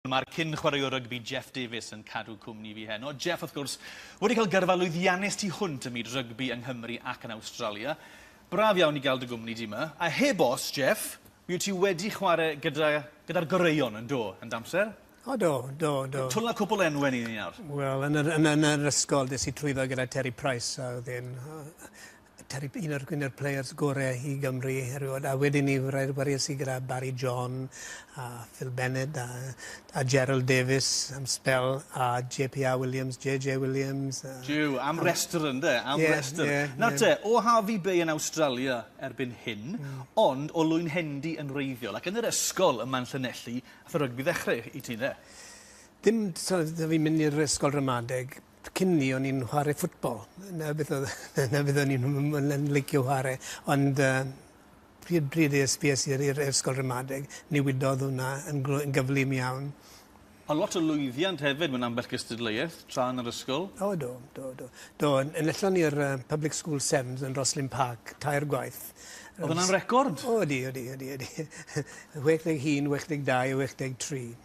Mae'r cyn-chwaraewr rygbi Jeff Davies yn cadw cwmni fi heno. Jeff, wrth gwrs, wedi cael gyrfa lwyddiannus tu hwnt ym myd rygbi yng Nghymru ac yn Awstralia. Braf iawn i gael dy gwmni di 'ma. A heb os, Jeff, mi wyt ti wedi chwarae gyda, gyda'r goreuon, yn do, yn d'amser? O do, do, do. Twla cwpl enwen i ni nawr. Wel, yn yr, yn, yn yr ysgol, des i trwyddo gyda Terry Price, a oedd e'n Terry un o'r un o'r players gore i Gymru erioed a wedyn ni rhaid waries i gyda Barry John a Phil Bennett a a Gerald Davies am sbel a JPR Williams JJ Williams a... Jiw am restr ynde am yeah, restr. Yeah, Nawr yeah. te o Harvey Bay yn Awstralia erbyn hyn mm. ond o Lwyn Hendy yn wreiddiol ac yn yr ysgol ym Manllynelli a rygbi ddechrau i ti ynde? Dim so, fi'n mynd i'r ysgol ramadeg Cyn 'ny o'n i'n chware ffwtbol. 'na beth odd 'na beth o'n i'n m- yn yn licio chware ond yy pryd pryd es fi es i i'r i'r ysgol ramadeg newidodd wnna yn glo- yn gyflym iawn. A lot o lwyddiant hefyd mewn ambell gystadleuaeth tra yn yr ysgol? O do, do, do. Do, yn enillon ni'r yy Public School Sevens yn Rosslyn Park tair gwaith. O'dd wnna'n record? O ydi, ydi, ydi, ydi. 61, 62 a 63.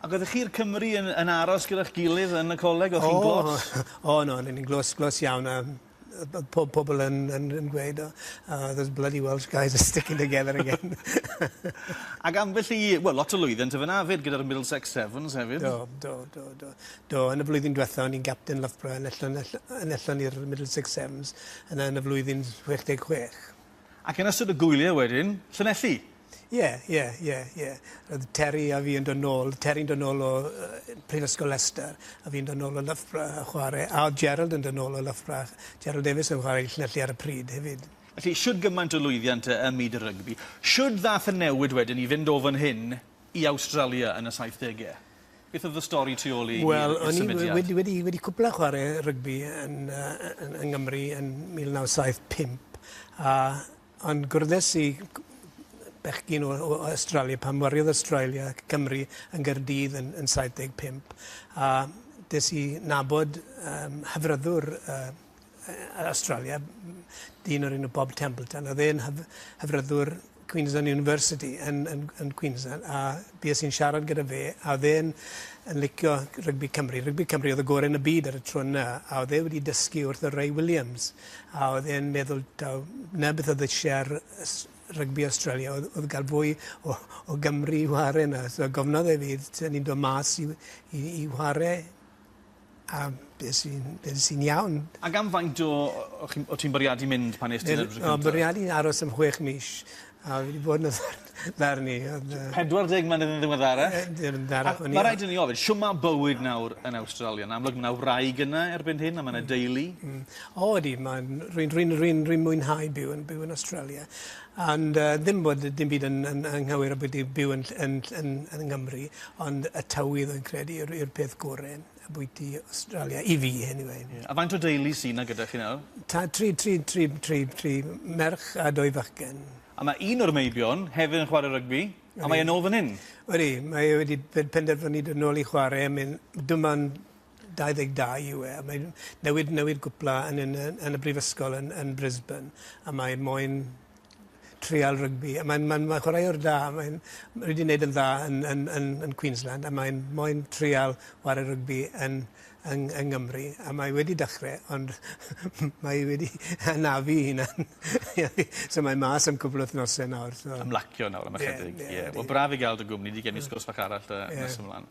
Ag oeddech chi a'r Cymry yn yn aros gyda'ch gilydd yn y coleg o'ch chi'n glos? O o'n o'n o'n i'n glos glos iawn a o'dd o'dd pob pobol yn yn yn gweud o oh those bloody Welsh guys are sticking together again. Ag ambell i wel lot o lwyddiant y' fynna 'fyd gyda'r Middlesex Sevens hefyd. Do do do do do yn y flwyddyn dwetha o'n i'n gapten Loughborough yn ellon ell- yn ellon i'r Middlesex Sevens yna yn y flwyddyn chwech deg chwech. Ac yn ystod y gwylie wedyn Llanelli? Ie ie ie ie. O'dd Terry a fi yn do' nôl Terry'n do' nôl o yy Prifysgol Leicester a fi'n do' nôl o Loughborough a chware a o'dd Gerald yn do' nôl o Loughborough. Gerald Davies yn chware i Llanelli ar y pryd hefyd. Felly shwd gymaint o lwyddiant yy ym myd y rygbi. Shwd ddath y newid wedyn i fynd o fan hyn i Awstralia yn y saithdege? Beth o'dd y stori tu ôl i i'r i'r symudiad? Wel o'n i wedi wedi wedi cwpla chware rygbi yn yy yy yn yng Nghymru yn 1975 a Ond gwrddais i bechgyn o o Awstralia pan wariodd Awstralia ac Cymru yn Gaerdydd yn yn saith deg pump a des i nabod yym hyfryddwr yy yy yy Awstralia m- dyn o'r enw Bob Templeton o'dd e'n hyf- hyfryddwr Queensland University yn yn yn Queensland a fues i'n siarad gyda fe a o'dd e'n yn licio rygbi Cymru rygbi Cymru o'dd y gore' yn y byd ar y tro yna a o'dd e wedi dysgu wrth o Ray Williams A oedd e'n meddwl taw 'na beth oedd isie ar ys- rygbi Australia oedd oedd ga'l fwy o o Gymry i whare 'na so gofnodd e fi t- o'n i'n do' mas i i i whare a beth sy'n beth sy'n iawn. Ac am faint o o chi'n o' ti'n bwriadu mynd pan nest ti... Wel o bwriadu aros am chwech mis A fi 'di bod yn y dd- ddarn-. Ond yy... 40 mlynedd yn ddiweddarach. Yn ddiweddarach o'n i... A ma' raid i ni ofyn shw ma' bywyd nawr yn Awstralia? Yn amlwg ma' 'na wraig yna erbyn hyn a ma' 'na deulu. Hmm. O ydi ma'n rwy'n rwy'n rwy'n rwy'n mwynhau byw yn byw yn Awstralia ond yy ddim bod yy dim byd yn yn anghywir ambwytu byw yn ll- yn ll- yn yn Nghymru ond y tywydd rwy'n credu yw'r yw'r peth gore. Ambwyty Awstralia, i fi anyway. Ie. A faint o deulu sy 'na gyda chi nawr? Ta- tri tri tri tri tri merch a dwy fachgen. A ma' un o'r meibion hefyd yn chware rygbi a mae e nôl fan 'yn. Ydi, mae e wedi pe- penderfynu dod nôl i chware a mae'n dim ond 22 yw e a mae'n newid newid cwpla yn yn y yn y brifysgol yn yn Brisbane a mae moyn treial rygbi. Mae'n mae, mae chwaraewr da, mae'n wedi wneud yn dda yn, yn, yn, yn Queensland a mae'n moyn treial chwarae rygbi yn, yn, yn Nghymru. A mae wedi dechrau, ond mae wedi anafu hunan. so mae mas am cwbl wythnosau nawr. So. Ymlacio nawr am ychydig. Yeah, yeah, yeah. Wel, braf i gael dy gwmni di gen i sgwrs fach arall da, yeah. nes ymlaen.